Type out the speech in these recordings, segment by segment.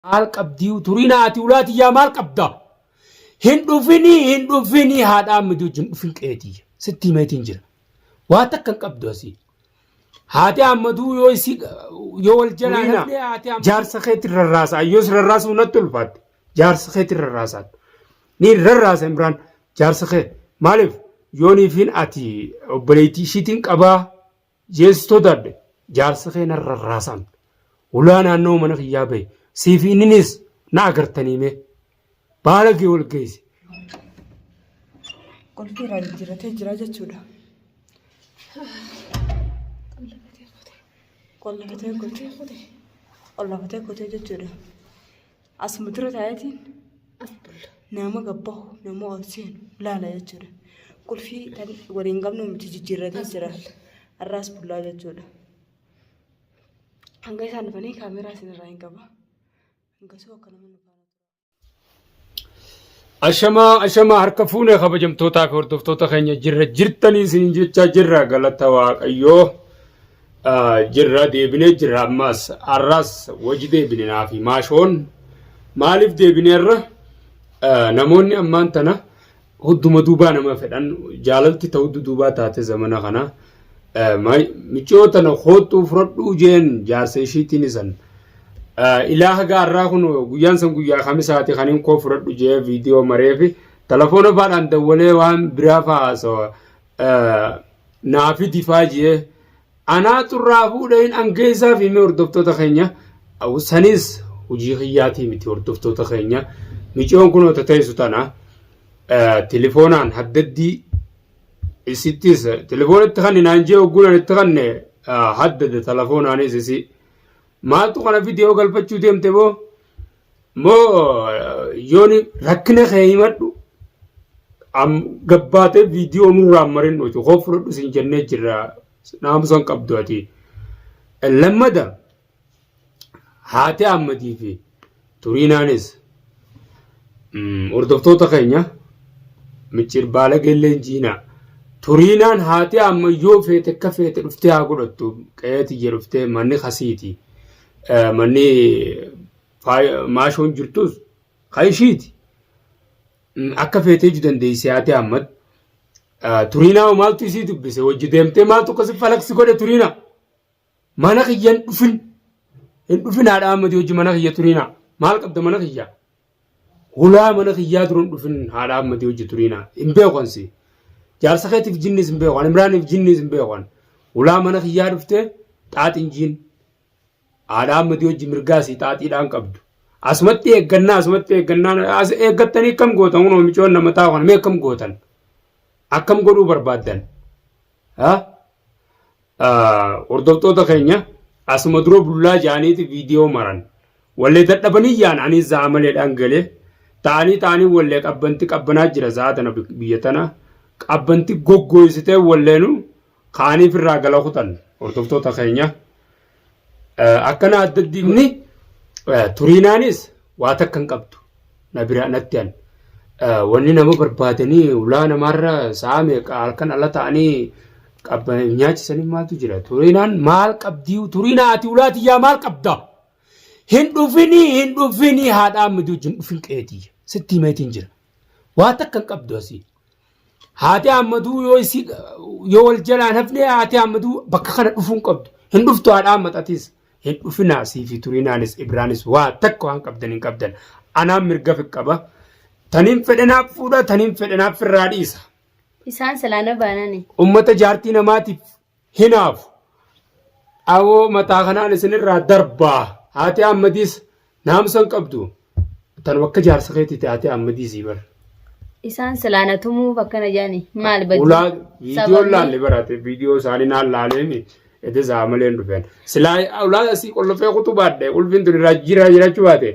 Maal qabdii uturinaa ati ulaa tiyyaa maal qabda? Hin dhufinii hin dhufinii haadhaa miti wajjin dhufin qe'ee tiyya. Sitti himeetiin jira. Waa takka hin qabdu asii. Haati Ahmaduu yoo isii yoo wal jalaa Turiina, dhabdee haati Ahmaduu. Jaarsa keetiin rarraasaa. Yoos rarraasuu natti ulfaatte. Jaarsa keetiin rarraasaa. Ni rarraasa Imraan. Jaarsa kee. Maaliif? Yooniifiin ati obboleettii ishiitiin qabaa. Yes sodaadhe jaarsi kee narra rarraasaan ulaa naannoo mana kiyyaa bahe siifi inninis na agartanii mee baalagee wal geesse. Qulfii irraa jijjiirratee jira jechuudha. Qollafatee kotee. Qollafatee kotee jechuudha. Asuma dura taayatiin nama gabbahu nama ol seenu laala jechuudha. Qulfii kan waliin qabnu miti jijjiirratee jira. Har'aas bullaa jechuudha. Hanga isaan dhufanii kaameeraa isinirraa hin qaba. Hangasuu akka nama nu faana tura. Ashamaa ashamaa harka fuune kabajamtootaa fi hordoftoota keenya jirra jirtanii isiniin jechaa jirra galata waaqayyoo ah, jirra deebinee jirra ammaas har'aas waji deebine naa fi maashoon maaliif deebineerra Ah, namoonni ammaan tana hudduma duubaa nama fedhan jaalalti ta'u duubaa taate zamana kana Michoo tana koottuu fudhadhuu jeen jaarsa ishiitiin isan. Ilaa haga har'aa kun guyyaan san guyyaa kamisaati kan hin koo fudhadhu jee viidiyoo maree fi telefoona faadhaan dawwalee waan biraa faa haasawa. Naa fidi faa jee. Anaa xurraa fuudhee hin angeessaa fi mee hordoftoota keenya. Sanis hojii kiyyaatii miti hordoftoota keenya. Michoon kun teessu tana telefoonaan haddaddii Isittis telefoona itti kanne naan jee ogguunaan itti kanne haddade telefoonaanis isi. Maaltu kana viidiyoo galfachuu deemte boo? Moo yooni rakkina kee himadhu gabbaatee viidiyoo nurraa marin nuti koo fudhadhu sin jennee jirra naamusan qabdu ati. Lammada. Haati Ahmadii fi Turiinaanis hordoftoota keenya micciir baala gelleen jiinaa. Turiinaan haati amma yoo feete akka feete dhuftee haa godhattu qe'ee tiyya dhuftee manni kasiiti. Manni maashoon jirtus kan ishiiti. Akka feetee iju dandeessee haati amma. Turiinaa maaltu isii dubbise hojii deemtee maaltu akkasii falaqsi godhe Turiinaa. Mana kiyya hin dhufin. Hin dhufin haadha Ahmedii hojii mana kiyya turiinaa. Maal qabda mana kiyya? Hulaa mana kiyyaa dura hin dhufin haadha Ahmedii hojii turiinaa. Hin beekan si. Jaarsa keetiif jinnis hin beekan. Imraaniif jinnis hin beekan. Hulaa mana kiyyaa dhufte xaaxiin jiin. Haadha Ahmedii hojii mirgaa si xaaxiidhaan qabdu. Asumatti eeggannaa asumatti eeggannaa as eeggattanii akkam gootan kun micoon nama taa'u kana mee akkam gootan? Akkam godhuu barbaaddan? Haa? Hordoftoota keenya asuma dura bullaa jaaniiti viidiyoo maran. Wallee dadhabanii yaan ani za'a maleedhaan galee taanii taanii wallee qabbanti qabbanaa jira za'a tana biyya tana qabbanti goggooysitee walleenu kaaniif irraa gala kutan hordoftoota keenya. Akkana adda addii godhe. Inni turiinaanis waa takka hin qabdu. Na bira natti an. Wanni nama barbaadanii ulaa namaarra sa'a meeqa halkan ala ta'anii qabban nyaachisanii maaltu jira. Turiinaan maal qabdii turiinaa ati ulaa tiyyaa maal qabda? Hin dhufinii hin dhufinii haadhaa miduu hin dhufin qeetii. Sitti himeetiin jira. Waa takka hin qabdu asii. Haati Ahmaduu yoo isii yoo wal jalaan hafne haati Ahmaduu bakka kana dhufuun qabdu. Hin dhuftu haadha Ahmadatis. Hin dhufinaa siifi turinaanis Ibraanis waa takka waan qabdan hin qabdan. Anaan mirga fi qaba. Taniin fedhanaaf fuudha taniin fedhanaaf firraa dhiisa. Isaan silaana baanani. Ummata jaartii namaatiif hinaafu. Dhawoo mataa kanaan isinirraa darbaa. Haati Ahmadiis naamsa hin qabdu. Tanuma akka jaarsa keetiiti haati Ahmadiisii bara. Isaan silaa na tumuuf akkana jedhani. Maal badii? Ulaa viidiyoon Sababni- laalle barate viidiyoo isaanii naan laaleen edda isaa malee hin dhufeen. Silaa ulaa asii qollofee kutuu baadhe ulfiin tun irraa jira jiraachuu baate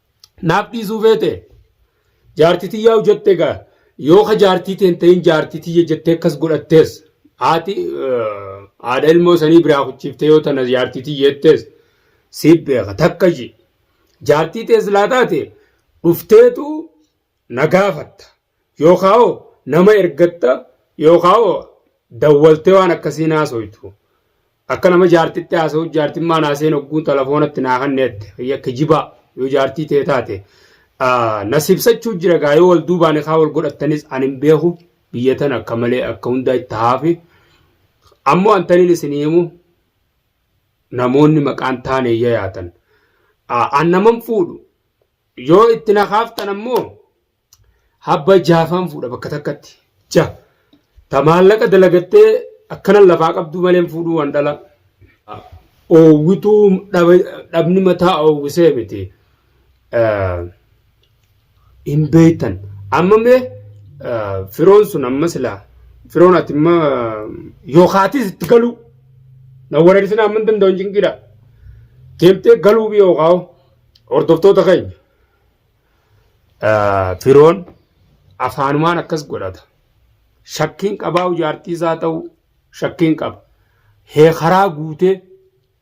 naaf dhiisuu feete jaartii tiyyaa hojjette egaa yoo ka jaartii teen ta'in jaartii tiyya jettee akkas godhattees haati haadha ilmoo sanii biraa kuchiiftee yoo tana jaartii tiyya jettees siif beeka takka ji jaartii tees laa taate dhufteetu na gaafatta Yookaa hoo nama ergatta yookaa hoo dawwaltee waan akkasii naasoytu. Akka nama jaartitti haasa'u jaartiin maa naaseen ogguun telefoonatti naa kan neette fayya kijibaa yoo jaartii tee taate nasibsachuu jira gaa yoo wal duubaani kaa wal godhattanis ani hin beeku biyya tan akka malee akka hundaa itti haafi ammoo antaniin isin himu namoonni maqaan taane iyya yaatan an naman fuudhu yoo itti na kaaftan ammoo Habba jaafaan fuudha bakka takkatti. Ja. Ta maallaqa dalagattee akkanan lafaa qabduu maleen fuudhuu waan dhala. Oowwituu dhabni mataa oowwisee miti. Hin beektan. Amma mee firoon sun amma silaa firoon ati imma yookaatis itti galuu. Na wareersin amma hin danda'u hin cinqidha. Deemtee galuu biyya yookaan hordoftoota keenya. Firoon afaanumaan akkas godhata. Shakkiin qabaa jaartii isaa ta'u shakkiin qaba. Hee karaa guutee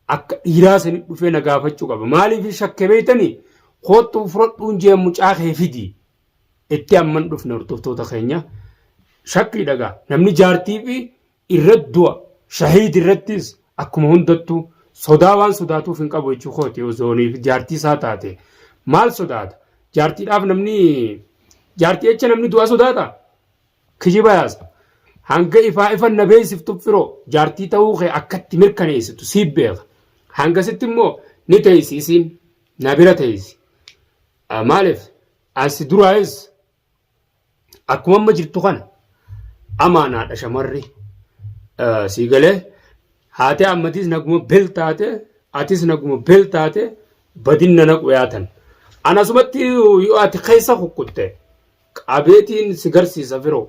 akka dhiiraa sanii dhufee na gaafachuu qaba. Maaliif shakke beektanii? Koottuu fudhadhuun jee mucaa kee fidi. Itti amman dhufne hordoftoota keenya. Shakkii dhagaa. Namni jaartii fi irratti du'a shahiid irrattis akkuma hundattuu sodaa waan sodaatuuf hin qabu jechuu kooti osooniif jaartii isaa taate maal sodaata jaartiidhaaf namni jaartii jecha namni du'a sodaata kijiba yaasa hanga ifaa ifan na beeksiftu firoo jaartii ta'uu kee akkatti mirkaneessitu siif beeka hangasitti immoo ni teessi isiin na bira teessi maaliif asi duraayis Akkuma amma jirtu kana amaanaadha shamarri sii galee haatee ammatiis naguma bel taate atis naguma bel taate badinna naqu yaatan. Anasumatti yoo ati keessa kukkutte qabeetiin si garsiisa firoo.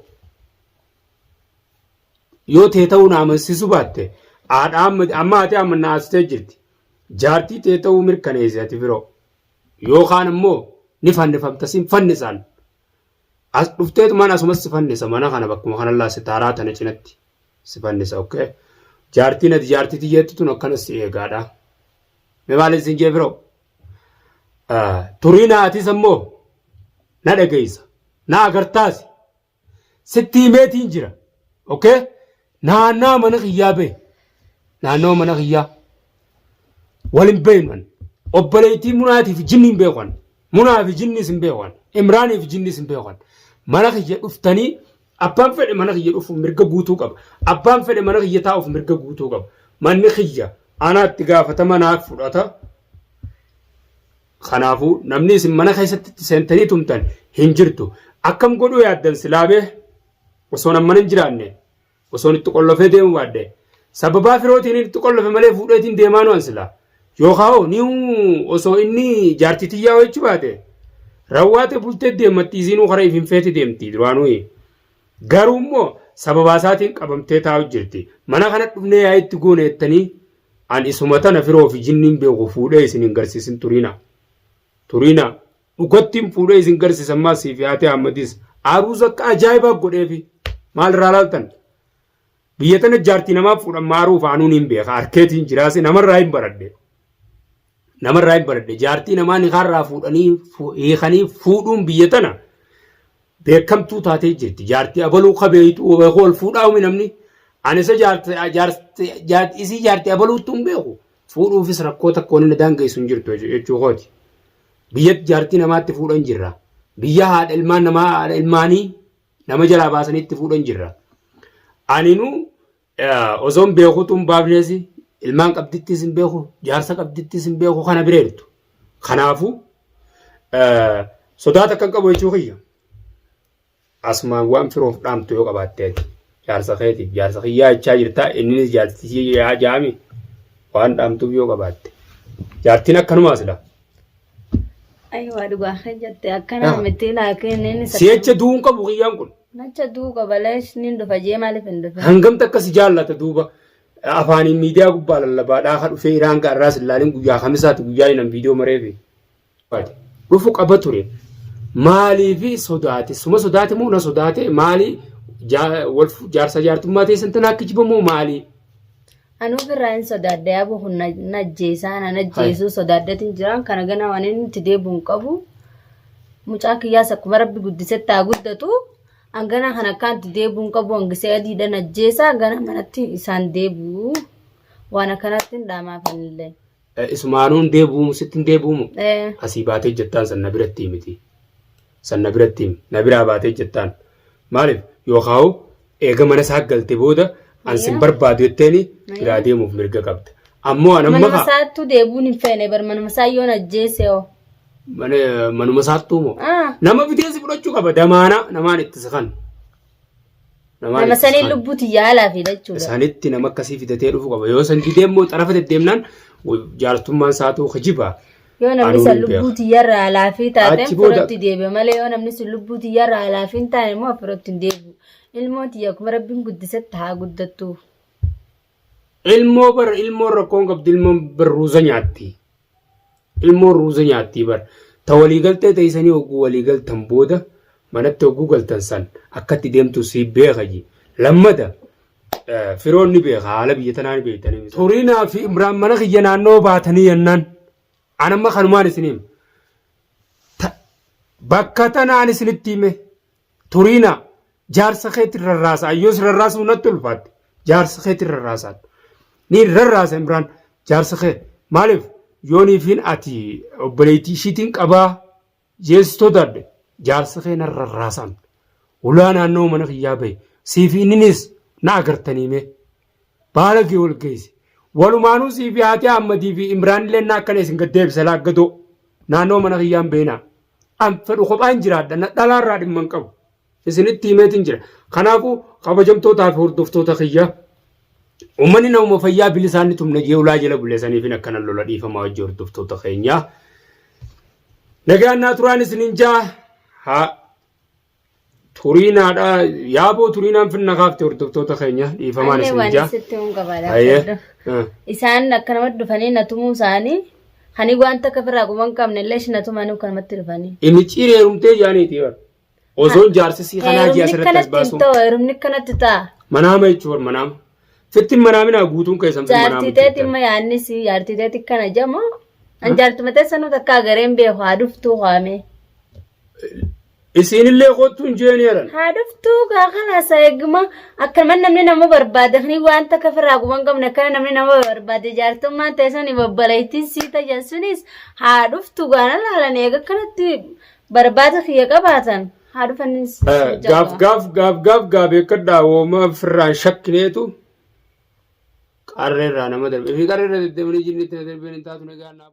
Yoo tee ta'uu na amansiisu baatte haadha amma haatee amma na haasitee jirti. Jaartii tee ta'uu mirkaneessi ati firoo. Yookaan immoo ni fannifamta sin fannisaan. As dhufteetu mana asumas si fannisa mana kana bakkuma kanallaa si taaraa tana cinatti si fannisa okay. Jaartiin ati jaartii tiyyeetti tun akkanas si eegaadha. Mee maaliin sin jee firoo? Turii naatis ammoo na dhageessa. Na agartaasi. sitti himeetiin jira okay naannaa mana kiyyaa bee naannoo mana kiyyaa walin beeynan obboleettii munaatiif jinni hin beekan munaa fi jinnis hin beekan imraanii fi jinnis hin beekan mana kiyya dhuftanii abbaan fedhe mana kiyya dhufuuf mirga guutuu qaba abbaan fedhe mana kiyya taa'uuf mirga guutuu qaba manni kiyya anaatti gaafatama naaf fudhata Kanaafuu namni isin mana keessatti itti seentanii tumtan hin jirtu. Akkam godhuu yaaddan silaamee osoon amman hin jiraanne osoon itti qollofee deemu baadhe sababaa firootiin itti qollofe malee fuudheetiin deemaa nu'an sila yookaan hoo ni osoo inni jaartii tiyyaa hojjechuu baate rawwaate bultee deemmatti isiinuu karaa ifin feete deemti duraanuu garuu immoo sababaa isaatiin qabamtee taa'u jirti mana kana dhufnee yaa itti goone jettanii An isuma tana firoo fi jinniin beeku fuudhee isin hin garsiisin turiina. Turiina dhukattiin fuudhee isin garsiisa ammaa siif yaatee Ahmadis aruuza akka ajaa'ibaa godheefi maal irraa laaltan. Biyya tana jaartii namaa fuudhan maaruu faanuun hin beeka arkeetiin jiraase namarraa hin baradhe. namarraa hin baradhe jaartii namaa nikaarraa fuudhanii fu- hiikanii fuudhuun biyya tana beekamtuu taatee jirti jaartii abaluu kabeeytu beeku wal fuudhaa humi namni ani isa jaarti jaarti jaarti isii jaartii abaluutti hin beeku fuudhuufis rakkoo takka wanni na daangeessu hin jirtu jechu- jechuu kooti biyyatti jaartii namaatti fuudhan jirra biyya haadha ilmaan namaa haadha ilmaanii nama jalaa baasanitti fuudhan jirra aninu Osoon beekuutu hin baafnees ilmaan qabdittis hin beeku jaarsa qabdittis hin beeku kana bira jirtu. Kanaafuu sodaata kan qabu jechuu kiyya. Asumaan waan firoof dhaamtu yoo qabaatte ati jaarsa keetiif jaarsa kiyyaa jechaa jirta innis jaarsi jaami waan dhaamtuuf yoo qabaatte. Jaartiin akkanumaas dha. Ayiwaa dhugaa kee jette akkana Ah. miti laakiin inni Si jecha du'uu hin qabu kiyyaan kun. Nacha duu qabalees ni dhufa jee maaliif hin dhufe? Hangamti akka si jaallata duuba afaaniin miidiyaa gubbaa lallabaa dhaaha dhufee iraan gaarraa si ilaalin guyyaa kamisaati guyyaa inni viidiyoo mareefi. Dhufu qaba ture. Maaliifi sodaate? Suma sodaate moo na sodaate? Maali jaa- wal fu- jaarsa jaartummaa ta'e santan akka jibamoo maali? Anuu birraa hin sodaadde yaaboo kun na na ajjeesaa na na ajjeesuu sodaaddatiin jiraan kana ganaa waan inni itti deebi'u hin qabu. Mucaa kiyyaas akkuma rabbi guddisetti haa guddatu. Hanganaa kana akkaan itti deebi'u hin qabu hangisee adiidhaan ajjeesaa gara manatti isaan deebi'u. Waan akkanatti hin dhaamaafanillee. Eh, Isumaanuu hin deebi'umu sitti hin deebi'umu. Eh, Asii baatee jettaan san na biratti miti. San na biratti himi. Na biraa baatee jettaan. Maaliif yookaan eega mana isaa galte booda an sin Ayyaa. barbaadu jetteeni Ayyaa. biraa deemuuf mirga qabda. Ammoo an amma manuma kaa- isaattuu deebi'uun hin feene bar manuma isaa yoon ajjeese hoo. mana- manuma isaattuu moo. Ah, Nama biteessi fudhachuu qaba damaanaa namaan itti siqan. Namaan Nama itti saniin isaan- lubbuu tiyyaa alaa fiidha jechuudha. isaanitti nama akkasii fidatee dhufu qaba yoo san didee immoo xarafa deddeemnaan jaarsummaan saatuu kijiba Yoo namni Anuu san hin lubbuu beeku. tiyyarraa alaa fi taate Achi booda- firootti deebi'a malee yoo namni sun lubbuu tiyyarraa alaa fi hin taane immoo firootti hin deebi'u. Ilmoo tiyya akkuma rabbiin guddisetti haa guddattu. Ilmoo bar ilmoon rakkoon qabdu ilmoon bar ruuza nyaatti. Ilmoon ruuza nyaatti bar. Ta walii galtee teessanii hogguu walii galtan booda manatti hogguu galtan san akkatti deemtu si beeka ji. Lammata firoon ni beeka haala biyya tanaa ni beektanii. Turiinaa fi Imraan mana kiyya naannoo baatanii yennaan. An amma kanumaan isiniim. Bakka tanaan isinitti hime. Turiina jaarsa keetti rarraasaa yoo si rarraasuu natti ulfaatte jaarsa keetti rarraasaan ni rarraasa Imraan jaarsa kee maaliif yooniifiin ati obboleettii ishiitiin qabaa jeessi sodaadhe jaarsa kee na rarraasaan ulaa naannoo mana kiyyaa bahe siifi inninis na agartanii mee baala kee wal geesse walumaanuu siifi haati Ahmadii fi Imraan illee na akkana isin gad deebisa laaggadoo naannoo mana kiyyaan beenaa an fedhu kophaan jiraadha na dhalaarraa dhimma hin qabu isinitti himeetiin jira kanaafuu kabajamtootaa fi hordoftoota kiyya ummanni namuma fayyaa bilisaan ni tumna jee ulaa jala buleesaniif hin akkana lola dhiifamaa hojii hordoftoota keenyaa nagaan naa turaan isinin jaa haa Turiinaadha. Yaaboo turiinaan finna kaafte hordoftoota keenya dhiifamaan Anne isin waan jaa. isitti hin qabaadha. Ayyee. Ah. Isaan akkanumatti dhufanii na tumuu isaanii kanii wanta akka firaa quban qabne illee ishii na tumanii akkanumatti dhufanii. Imicciin heerumtee jaaniiti bar. Osoon jaarsisii kanaa ji'a Heerumni asirratti as kanatti hin baasuun. ta'u heerumni kanatti ta'a. Manaama jechuun bar manaama. Fitti manaaminaa guutuun keessan fitti manaama. Jaartii teetiin ma yaadni si jaartii teetii kana jama. An jaartii matee sanuu takka agareen beeku haa dhuftuu kaamee. Isiinillee kottu hin jeeni jedhan. Haa dhuftuu gaa kalaasa eeguma akkanuman namni nama barbaade kani waan takka firaa guban qabne akkana namni nama barbaade jaartummaan teessanii babbalaytiin sii tajan sunis haa dhuftu gaana laalan eega akkanatti barbaada kiyya qabaatan haa dhufanis. Gaaf gaaf gaaf gaaf gaa beekadhaa wooma firraan shakkineetu qarreerraa nama darbe. Fi qarreerra deddeemanii jinni itti na darbeen hin taatu nagaa naaf.